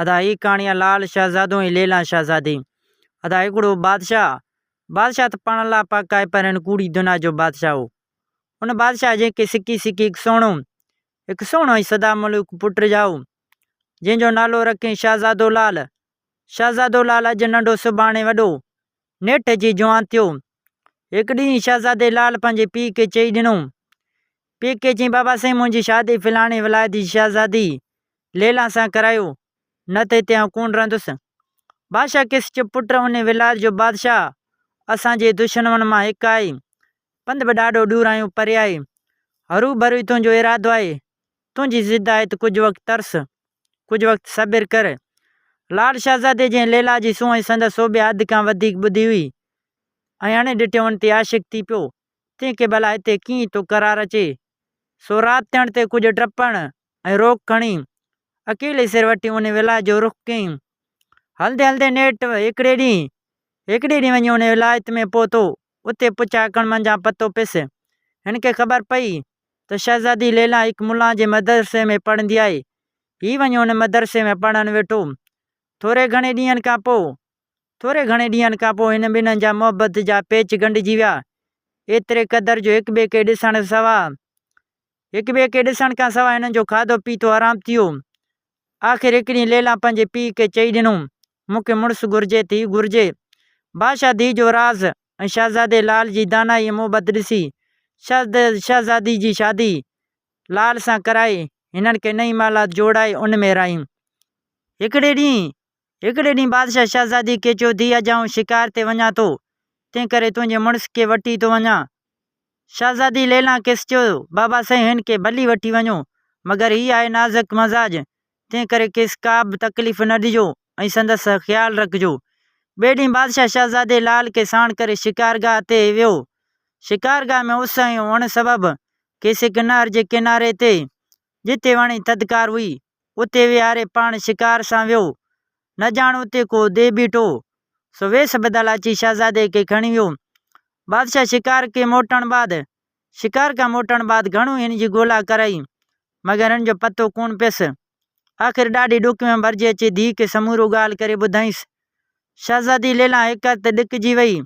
ادا هي ڪهاڻي آ لعل شهزادو ۽ ليلان شهزادي ادا هڪڙو بادشاهه آ بادشاهه ته پاڻ الله پاڪ آهي پر هن ڪوڙي دنيا جو بادشاهه هو ان بادشاهه جنهن کي سڪي سڪي هڪ سهڻو هڪ سهڻو ۽ سدا ملوڪ پٽ رجايو جنهن جو نالو رکين شهزادو لعل شهزادو لعل اڄ ننڍو سڀاڻي وڏو نيٺ جي جوان ٿيو. هڪ ڏينهن شهزادي لال پنهنجي پيء کي چئي ڏنو. پيء کي چيائين بابا سائين منهنجي شادي فلاڻي ولايت جي شهزادي ليلان سان ڪرايو نه ته هتي آئون ڪونه رهندس. بادشاهه کيس چيو پٽ ان ولايت جو بادشاهه اسان جي دشنون مان هڪ آهي. پنڌ به ڏاڍو ڏور آهيون پري آهي. هروڀرو ئي تنهنجو ارادو آهي تنهنجي ضد آيت ڪجهه وقت ترس، ڪجهه وقت صبر ڪر. لاڙ شهزادي جنهن ليلا جي سونهن سندس سوڀي حد کان وڌيڪ ٻڌي هئي ۽ اڻ ڏٺيون تي عاشق ٿي پيو، تنهن کي ڀلا هتي ڪيئن ٿو قرار اچي؟ سو رات ٿيڻ تي ڪجهه ڊپڻ ۽ روڪ کڻي، اڪيلي سر وٺي ان ولا جو رخ ڪيائين. هلندي هلندي نيٺ هيڪڙي ڏينهن هيڪڙي ڏينهن وڃي ان ولايت ۾ پهتو. اتي پڇا ڪڻ منجهان پتو پيس. هن کي خبر پئي ته شهزادي ليلان هڪ ملان جي مدرسي ۾ پڙهندي آهي. هي وڃي ان مدرسي ۾ پڙهڻ ويٺو. ٿوري گهڻي ڏينهن کان پوء ٿوري گهڻي ڏينهن کان پوء هن ٻنهن جا محبت جا پيچ ڳنڍجي ويا. ايتري قدر جو هڪ ٻئي کي ڏسڻ سوا هڪ ٻئي کي ڏسڻ کان سواء هنن جو کاڌو پيتو حرام ٿي ويو. آخر هڪ ڏينهن ليلان پنهنجي پيء کي چئي ڏنو، مون کي مڙس گهرجي ته هي گهرجي. بادشاهه ڌيء جو راز ۽ شهزادي لال جي دانائي ۽ محبت ڏسي، شهزادي جي شادي لال سان ڪرائي، هنن کي نئين محلات جوڙائي ان ۾ رهائين. هڪڙي ڏينهن هڪڙي ڏينهن بادشاهه شهزادي کي چيو، ڌيء اڄ آئون شڪار تي وڃان ٿو، تنهنڪري تنهنجي مڙس کي وٺي ٿو وڃان. شهزادي ليلان کيس چيو، بابا سائين هن کي ڀلي وٺي وڃو، مگر هي آهي نازڪ مزاج، تنهنڪري کيس ڪابه تڪليف نه ڏجو ۽ سندس خيال رکجو. ٻئي ڏينهن بادشاهه شهزادي لال کي ساڻ ڪري شڪارگاهه تي ويو. شڪارگاهه ۾ اس ۽ اڻ سبب کيس هڪ نهر جي ڪناري تي جتي وڻ ۽ ٿڌڪار هئي، اتي ويهاري پاڻ شڪار سان ويو. نه ڄاڻ اتي ڪو ديء بيٺو هو، سو ويس بدل اچي شهزادي کي کڻي ويو. بادشاهه شڪار کي موٽڻ بعد شڪار کان موٽڻ بعد گهڻو هن جي ڳولا ڪرائي، مگر هن جو پتو ڪونه پيس. آخر ڏاڍي ڏک ۾ ڀرجي اچي ڌيء کي سمورو ڳالهه ڪري ٻڌائينس. شهزادي ليلا هڪر ته ڏڪجي وئي،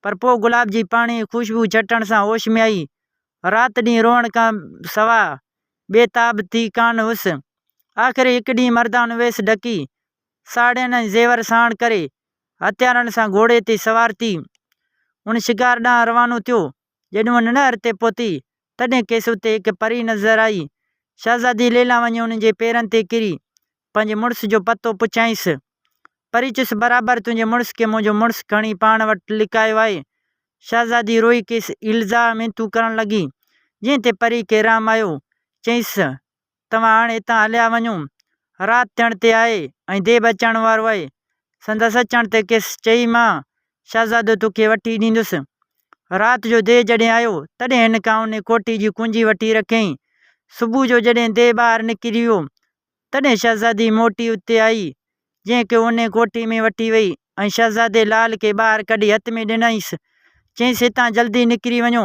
پر پوء گلاب جي پاڻيء جي خوشبوء چٽڻ سان هوش ۾ آئي. رات ڏينهن روئڻ کان سواء بي تاب ٿي ڪانه هئس. آخر هڪ ڏينهن مردان ويس ڍڪي، ساڙهين ۽ زيور ساڻ ڪري، هٿيارن سان گهوڙي تي سوار ٿي، ان شڪار ڏانهن روانو ٿيو. جڏهن هو ننهر تي پهتي، تڏهن کيس اتي هڪ پري نظر آئي. شهزادي ليلا وڃي ان جي پيرن تي ڪري، پنهنجي مڙس جو پتو پڇيائينس. پري چيس، برابر تنهنجي مڙس کي منهنجو مڙس کڻي پاڻ وٽ لڪايو آهي. شهزادي روئي کيس ايلزا مينتون ڪرڻ لڳي، جنهن تي پري کي رحم آيو. چيس، توهان هاڻ هتان هليا وڃو. رات ٿيڻ تي آهي ۽ ديب اچڻ وارو آهي. سندس اچڻ تي کيس چئي مان شهزادو توکي وٺي ڏيندس. رات جو ديء جڏهن آيو، تڏهن هن کان انهي ڪوٺي جي ڪنجي وٺي رکيائين. صبح جو جڏهن ديء ٻاهر نڪري ويو، تڏهن شهزادي موٽي اتي آئي، جنهن کي انهيء ڪوٺي ۾ وٺي ويئي ۽ شهزادي لال کي ٻاهر ڪڍي هٿ ۾ ڏنائينس، چيائينس، هتان جلدي نڪري وڃو،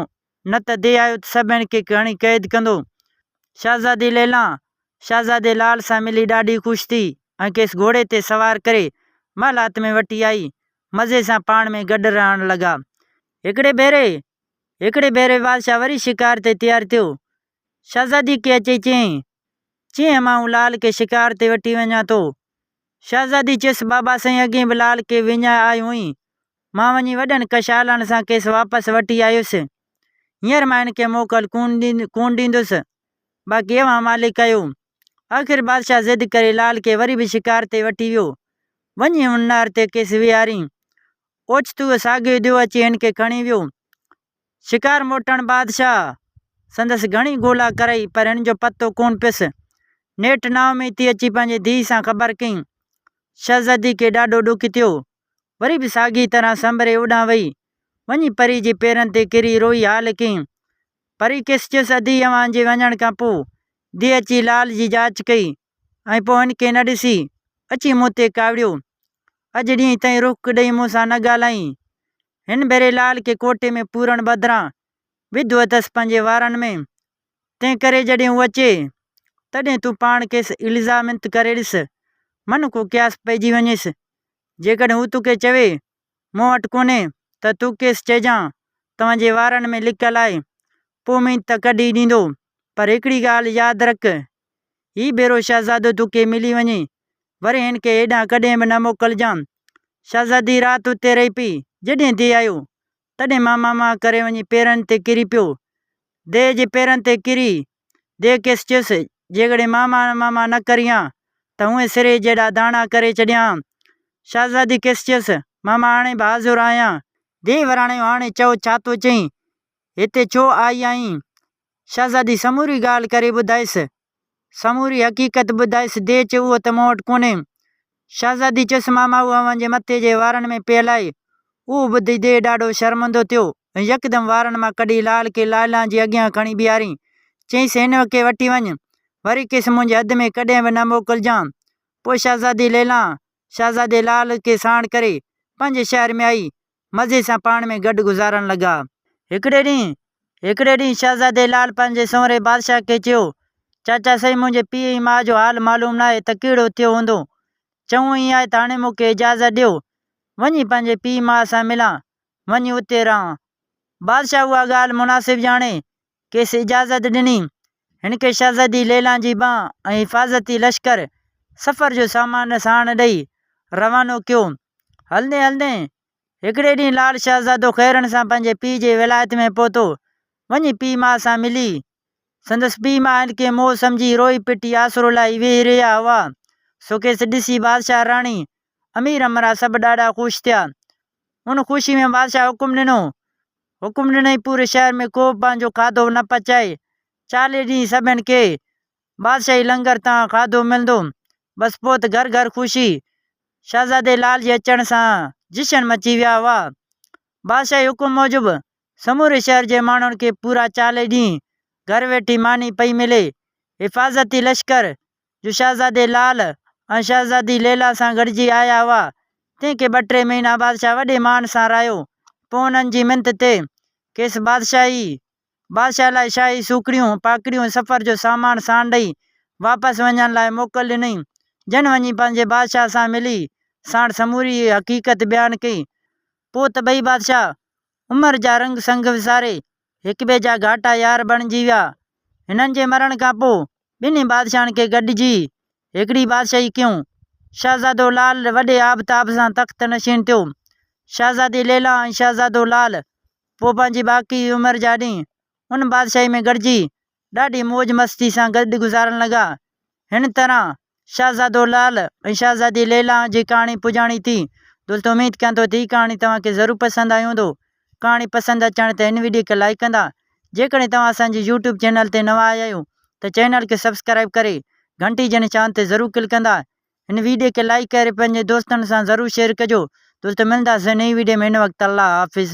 نه ته دي آيو ته سڀني کي هڻي قيد ڪندو. شهزادي ليلا، شهزادي لال سان ملي ڏاڍي خوش ٿي ۽ کيس گهوڙي تي سوار ڪري، محلات ۾ وٺي آئي. مزي سان پاڻ ۾ گڏ رهڻ لڳا. هڪڙي ڀيري، هڪڙي ڀيري بادشاهه وري شڪار تي تيار ٿيو. شهزادي کي اچي چيائين، چينهن مان هون لال کي شڪار تي وٺي وڃان ٿو. شهزادي چيس، بابا سائين اڳي به لال کي وڃائي آئي هئين. مان وڃي وڏن ڪشالن سان کيس واپس وٺي آيس. هينئر مان هن کي موڪل ڪونه ڏيندس. باقي اوهان مالڪ آهيو. آخر بادشاهه ضد ڪري لال کي وري به شڪار تي وٺي ويو. وڃي هن نار تي کيس ويهارين. اوچتو اهو ساڳيو ديو اچي هن کي کڻي ويو. شڪار موٽڻ بعد شاهه سندس گهڻي ڳولا ڪرئي پر هن جو پتو ڪونه پيس. نيٺ نااميدي اچي پنهنجي ڌيء سان خبر ڪيائين. شهزادي کي ڏاڍو ڏک ٿيو. وري به ساڳيء طرح سنبري اوڏانهن وئي. وڃي پريء جي پيرن تي ڪري روئي حال ڪيائين. پريء کيس چيس، ادي اوهان جي وڃڻ کان پوء ڌيء اچي لال جي جاچ ڪئي. ۽ پوء هن کي نه ڏسي، اچي مون تي ڪاوڙيو. اڄ ڏينهن تائين رک ڏيئي مون سان نه ڳالهائين. هن ڀيري لال کي ڪوٽي ۾ پورڻ بدران وڌو اٿس پنهنجي وارن ۾. تنهن ڪري جڏهن هو اچي، تڏهن تون پاڻ کيس الزامنت ڪري ڏس. من ڪو قياس پئجي وڃيس. جيڪڏهن هو توکي چوي مون وٽ ڪونهي ته تون کيس چئجان ته منهنجي وارن ۾ لڪل آهي، پوء اميد ته ڪڍي ڏيندو، پر هڪڙي ڳالهه ياد رک، هي ڀيرو شهزادو تو کي ملي وڃي، وري هن کي هيڏانهن ڪڏهن به نه موڪلجان. شهزادي رات اتي رهي پئي، جڏهن ديء آيو، تڏهن ماما مان ڪري وڃي پيرن تي ڪري پيو. ديء جي پيرن تي ڪري، ديو کيس چيس، جيڪڏهن مان ماڻ ماما نه ڪريان ته هونئن سرهي جيڏا داڻا ڪري ڇڏيان هان. شهزادي کيس چيس، ماما هاڻي بهادر آهيان. ديو وراڻيو، هاڻي چئو ڇا ٿو چئين؟ هتي ڇو آئي آهين؟ شهزادي سموري ڳالهه ڪري ٻڌائيس. سموري حقيقت ٻڌائيس. ديو چيو، اهو ته مون وٽ ڪونهي. شهزادي چيس ماما هو اوهان جي مٿي جي وارن ۾ پيل آهي. اهو ٻڌي ديء ڏاڍو شرمندو ٿيو ۽ يڪدم وارن مان ڪڍي لال کي لائلان جي اڳيان کڻي بيهارين. چيس هن کي وٺي وڃ. وري کيس منهنجي حد ۾ ڪڏهن به نه موڪلجان. پوء شهزادي ليلان شهزادي لال کي ساڻ ڪري پنهنجي شهر ۾ آئي. مزي سان پاڻ ۾ گڏ گذارڻ لڳا. هڪڙي ڏينهن هڪڙي ڏينهن شهزادي لال پنهنجي سنوري بادشاهه کي چيو، چاچا سائين منهنجي پيء ۽ ماء جو حال معلوم ناهي ته ڪهڙو ٿيو هوندو. چڱو ائين آهي ته هاڻي مون کي اجازت ڏيو، وڃي پنهنجي پيء ماء سان ملان، وڃي اتي رهان. بادشاهه اها ڳالهه مناسب ڄاڻي کيس اجازت ڏني. هن کي شهزادي ليلان جي ٻانهن ۽ حفاظتي لشڪر سفر جو سامان ساڻ ڏئي روانو ڪيو. هلندي هلندي هڪڙي ڏينهن لال شهزادو خيرن سان پنهنجي پيء جي ولايت ۾ پهتو. وڃي پيء ماء سان ملي. سندس پيء ماء هن کي مئو سمجهي روئي پٽي آسرو لاهي ويهي رهيا هئا. سو کيس ڏسي بادشاهه، راڻي، امير امرا سڀ ڏاڍا خوش ٿيا. ان خوشيء ۾ بادشاهه حڪم ڏنو. حڪم ڏنئين پوري شهر ۾ ڪوبه پنهنجو کاڌو نه پچائي. چاليهه ڏينهن سڀن کي بادشاهي لنگر تان کاڌو ملندو. بس پوء ته گهر گهر خوشي. شهزادي لال جي اچڻ سان جشن مچي ويا هئا. بادشاهي حڪم موجب سموري شهر جي ماڻهن کي پورا چاليهه ڏينهن گهر ويٺي ماني پئي ملي. حفاظتي لشڪر جو شهزادي لال ۽ شهزادي ليلا سان گڏجي آيا هئا، تنهن کي ٻه ٽي مهينا بادشاهه وڏي مان سان راهيو، پوء انهن جي منٿ تي کيس بادشاهي بادشاهه لاء شاهي سوکڙيون، پاکڙيون، سفر جو سامان ساڻ ڏئي واپس وڃڻ لاء موڪل ڏنئين، جن وڃي پنهنجي بادشاهه سان ملي ساڻ سموري حقيقت بيان ڪئي، پوء ته ٻئي بادشاهه عمر جا رنگ سنگ وساري هڪٻئي جا گهاٽا يار بڻجي ويا. هنن جي مرڻ کان پوء ٻنهي بادشاهن کي گڏجي هڪڙي بادشاهي ڪيون. شهزادو لعل وڏي آبتاب سان تخت نشين ٿيو. شهزادي ليلا ۽ شهزادو لعل پوء پنهنجي باقي عمر جا ڏينهن ان بادشاهي ۾ گڏجي ڏاڍي موج مستي سان گڏ گذارڻ لڳا. هن طرح شهزادو لعل ۽ شهزادي ليليٰ جي ڪهاڻي پڄاڻي ٿي. دوستو اميد ڪيان ٿو ته هي ڪهاڻي توهان کي ضرور پسند آئي هوندو. ڪهاڻي پسند اچڻ تي هن وڊيو کي لائيڪ ڪندا. جيڪڏهن توهان اسان جي يوٽيوب چينل تي نوان آيا آهيو ته چينل کي سبسڪرائيب ڪري گهنٽي جي نشان تي ضرور ڪلڪ ڪندا. هن وڊيو کي لائيڪ ڪري پنهنجي دوستن سان ضرور شيئر ڪجو. دوستو ملنداسين نئين وڊيو ۾ هن وقت الله حافظ.